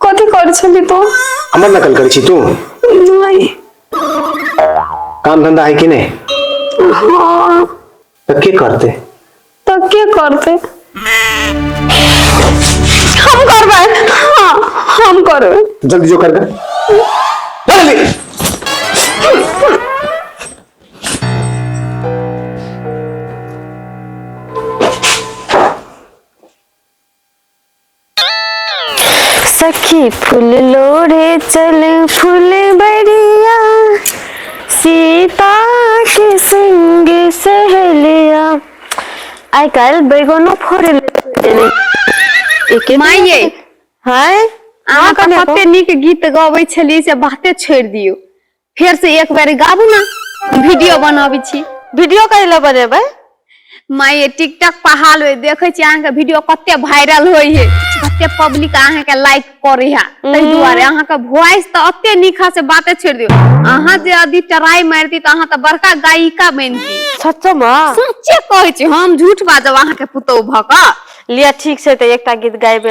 कथी कर छली तो हमर नकल करै छी तू नहीं काम धंधा है कि नहीं हाँ तो के करते तो के करते हम करबे हाँ हम करबे जल्दी जो कर जल्दी सखी फूल लोढ़े चल फूल बरिया सीता के संग सहेलिया आइ काल्हि बैगनो फोड़े ले एके माय ये हाय अहाँ के कते नीक गीत गबै छलियै से बाते छोड़ि दियौ फेर से एक बार गाबू ना वीडियो बनाबी छी वीडियो कहि ले बनेबै माय ये टिकटॉक पर हाल होय देखे छी अहाँ के वीडियो कते वायरल होय है कते पब्लिक अहाँ के लाइक करे है तै दुआरे अहाँ के वॉइस त अते निखा से बाते छोड़ दियो अहाँ जे यदि ट्राई मारती त अहाँ त बड़का गायिका बनती सच्चो मा सच्चे कहै छी हम झूठ बाजब अहाँ के पुतौ भक लिया ठीक छै तऽ एकटा गीत गाइबे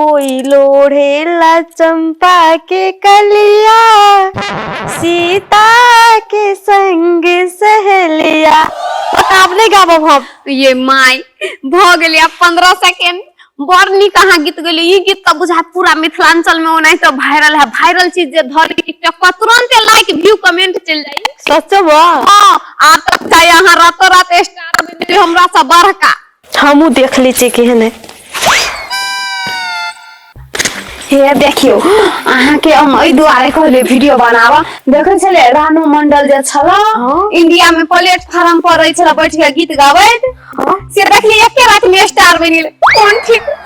कोई लोढ़ेला चंपा के कलिया सीता के संग सहेलिया बतावले गाबो हम ये माय भ गेली अब 15 सेकंड बड़ नीक अहाँ गीत गेली ई गीत तऽ बुझा पूरा मिथिलांचल में ओनाहि तऽ वायरल है वायरल चीज जे धर टिकटॉक पर तुरंत लाइक व्यू कमेंट चल जाई सच बा हां आ तब चाहे अहाँ रातो रात स्टार बन जाई हमरा से बड़का हमू देख ले छी केहन है हे देखियो अहाँ के हम एहि दुआरे कहले वीडियो बनावा देखे छले रानू मंडल जे छला हाँ। इंडिया में प्लेटफार्म पर रहे छला बैठ के गीत गाबैत हाँ। से देखली एके रात में स्टार बनि गेल कोन ठीक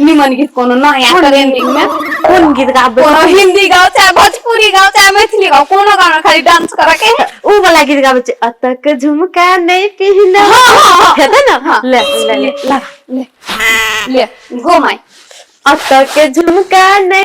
निमन गीत कोनो नया ट्रेंडिंग में कोन गीत गाबे कोनो हिंदी गाओ चाहे भोजपुरी गाओ चाहे मैथिली गाओ कोनो गाना खाली डांस करे के है। उ वाला गीत गाबे छै अतक झुमका नै पिहना हाँ, हाँ, हाँ। हेतै न हाँ। ले ले ले लगा ले ले गो माय अतक झुमका नै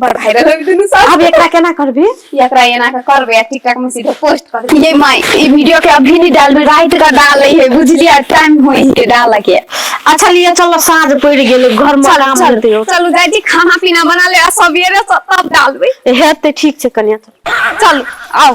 बड़ भाइरल हो दुनु सब अब एकरा केना करबी एकरा एना के करबे आ टिकटॉक में सीधे पोस्ट कर दे ये माय ई वीडियो के अभी नहीं डालबे रात का डाले है बुझलिया टाइम होई के डाल के अच्छा लिए चलो साँझ पड़ गेल घर में काम चल करते हो चलू जाई छी खाना पीना बना ले आ सवेरे से तब डालबे हेते ठीक छै कनिया चल चलू आओ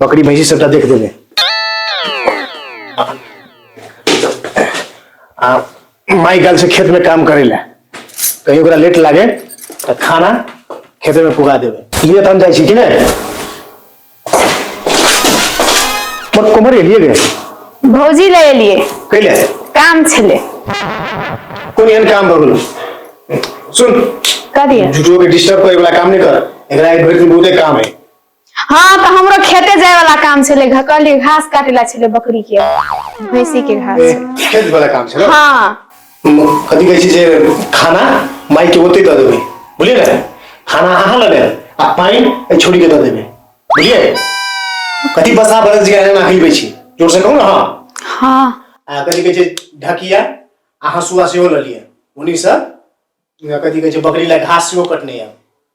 बकरी भैंसी सबटा देख देबै आ माई गल से खेत में काम करे ला कहीं ओकरा लेट लागे तो खाना खेत में पुगा देवे लिए तो हम जाए छी कि ने मोर कोमर एलिए गे भौजी ले एलिए कैले काम छले कोन एहन काम भऽ गेल सुन कह दिए झूठो के डिस्टर्ब करे वाला काम नहीं कर एकरा एक भरि दिन बहुते काम है हँ तऽ हमरो खेते जाय वाला काम छलै घकली घास काटे ला छलै बकरी के भैंसी के घास ए, खेत वाला काम छै ने हँ कथी कहै छै जे खाना माई के ओते दऽ देबै बुझलियै ने खाना अहाँ लऽ लेब आ पानि एहि छोरी के दऽ देबै बुझलियै कथी बसा बरस जे एना खिलबै छी जोर से कहू ने हँ हँ आ कथी कहै छै ढकिया आ हँसुआ सेहो लऽ लिअ उन्हीं से कथी कहै छै बकरी लए घास सेहो कटने यऽ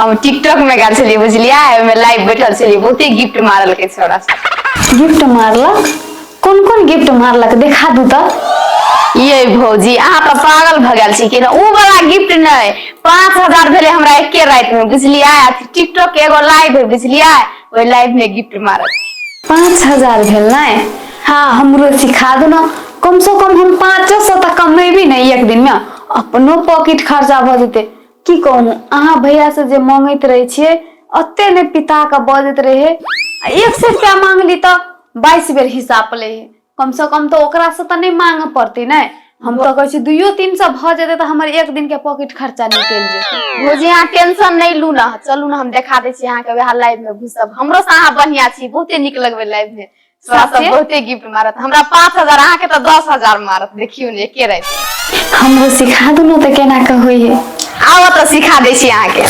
हम टिकटॉक में गेल छलियै बुझलियै ओहिमे लाइव बैठल छलियै बहुते गिफ्ट मारलकै छोरा गिफ्ट मारलक कोन कोन गिफ्ट मारलक देखा दू तऽ ये भौजी अहाँ तऽ पागल भऽ गेल छी कि ओ वाला गिफ्ट नहि पाँच हजार भेलै हमरा एके राति में बुझलियै टिकटॉक के एगो लाइव है बुझलियै ओहि लाइव में गिफ्ट मारल पाँच हजार भेल ने हाँ हमरो सिखा दू ने कम से कम हम पाँचो सौ तक कमेबी ने एक दिन में अपनो पॉकेट खर्चा भऽ जेतै की कहू अहाँ भैया से जे मांगैत रहे छियै ओते ने पिता के बजैत रहे आ एक सौ रुपया मांगली तऽ बाईस बेर हिसाब ले हे कम से कम तो ओकरा से तऽ नहि मांग पड़ती ने हम तो कहै छी दुइयो तीन सौ भऽ जेतै तऽ हमर एक दिन के पॉकेट खर्चा निकलि जेतै भौजी अहाँ टेंशन नहि लू ना चलू ना हम देखा दै छी अहाँके वएह लाइव में घुसब हमरो से अहाँ बढ़िया छी बहुते नीक लगबे लाइव में तोरा सब साथे? बहुते गिफ्ट मारत हमरा पाँच हजार अहाँ के तो दस हजार मारत देखियो ने एके रात में। हमरो सिखा दू ने तऽ केना कऽ होइ है आओ तो सिखा दै छी अहाँ के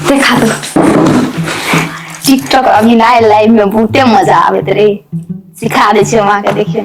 देखा दू टिकटॉक अभी ना लाइव में बहुते मजा आबैत रही सिखा दै छी हम अहाँ के देखियो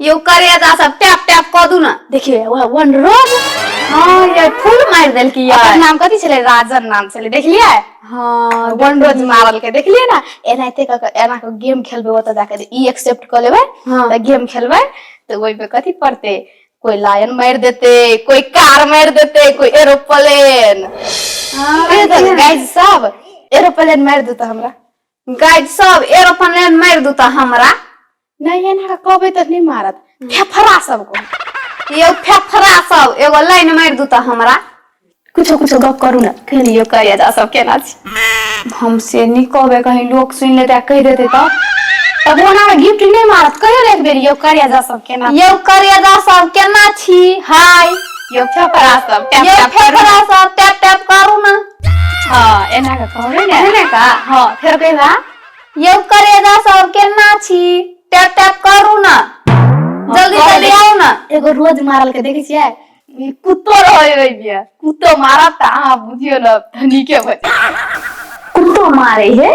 यो करेजा सब टैप टैप कऽ दू ना देखिए वह वन रोज हां ये फूल मार देल की यार नाम कथि छले राजन नाम छले देखलिए हां वन रोज मारल के देखलिए ना एनाते क एना के गेम खेलबे ओत जाके ई एक्सेप्ट क लेबे हां त गेम खेलबे त ओइ पे कथि पड़ते कोई लायन मार देते कोई कार मार देते कोई एरोप्लेन हां गाइस सब एरोप्लेन मार दू त हमरा गाइड सब एरोप्लेन ले मार दू त हमरा नहीं एना कहबे तो नहीं मारत फेफड़ा सबको ये फेफड़ा सब एगो लाइन मार दू त हमरा कुछो कुछो गप करू ना कहियो करिया जा सब केना छी हम से नहीं कहबे कहीं लोग सुन लेते कह देते तो तब ओना में गिफ्ट नहीं मारत कहियो एक बेर यो करिया जा सब केना ये करिया जा सब केना छी हाय यो फेफड़ा सब टैप ये टैप करू फेफड़ा सब टैप टैप करू ना हँ एना कऽ कहू ने एहने का हँ फेर कहिला यौ करेजा सब केना छी टैप टैप करू ना जल्दी कह जल्दी दे। आउ ना एगो रोज मारल के देखै छियै ई कुत्तो रहै ओइ बिया कुत्तो मारत तऽ अहाँ बुझियौ ने धनीके भऽ जायब। कुत्तो मारे है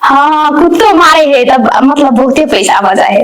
हाँ कुत्तो मारे है तब मतलब बहुते पैसा बजा है